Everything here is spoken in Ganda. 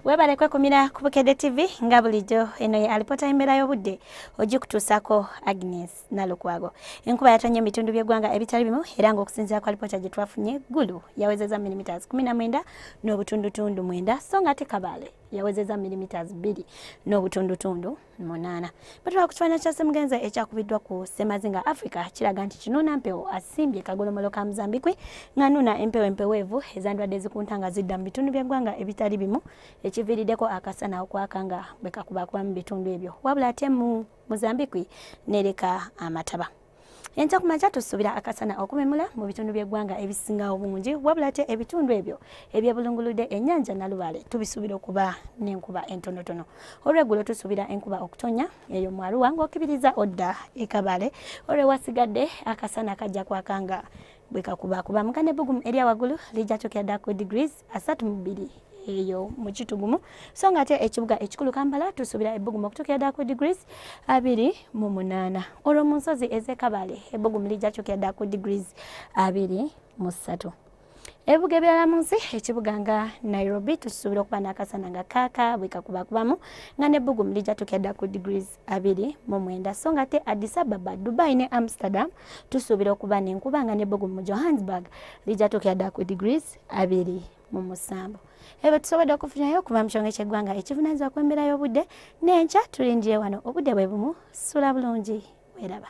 webale kwekumira ku bukedde tv nga bulijjo eno ye alipota embeera y'obudde ogikutuusako agnes nalukwago enkuba yatonye mu bitundu by'eggwanga ebitali bimu era ng'okusinziira ku alipota gye twafunye gulu yawezeza milimiters 19 n'obutundutundu mwenda so nga ate kabaale yawezeza milimiters 2 n'obutundutundu munaana batwala ku kifaananyi kya semugenza ekyakubiddwa ku semazinga africa kiraga nti kinuuna mpewo asimbye kagolomolo ka muzambikwe ng'anuuna empewo empeweevu ezandwadde zikunta nga zidda mu bitundu by'eggwanga ebitali bimu ekiviiriddeko akasana okwaka nga bwe kakubakuba mu bitundu ebyo wabula ate mu muzambikwi nereka amataba enkya ku makya tusuubira akasana okumemula mu bitundu by'eggwanga ebisinga obungi wabula ate ebitundu ebyo ebyebulunguludde ennyanja nalubaale tubisuubira okuba n'enkuba entonotono olweggulo tusuubira enkuba okutonya eyo mu aruwa ng'okibiriza odda ekabale olwewasigadde akasana kajja kwakanga bwekakuba kuba mukane bugumu erya waggulu lijja kyokera dda ku degrees asatu mu bbiri eyo mu kitugumu so nga ate ekibuga ekikulu kampala tusuubira ebbugumu okutuukira ddala ku degrees abiri mu munaana olwo mu nsozi ez'ekabale ebbugumu lijja kutuukira ddala ku degrees abiri mu ssatu ebibuga ebirala mu nsi ekibuga nga nairobi tukisuubira okuba n'akasana nga kaaka bwekakubakubamu nga n'ebbugumu lijja tukedda ku degrees abiri mu mwenda so nga te Addis Ababa, Dubai ne Amsterdam tusuubira okuba n'enkuba nga n'ebbugumu mu Johannesburg lijja tuukira ddala ku degrees abiri mu musanvu ebyo tusobodde okufunyayo okuva mu kyongo ky'eggwanga ekivunaanyizibwa ku embeera y'obudde n'enkya tulindiye wano obudde bwe bumu sula bulungi weeraba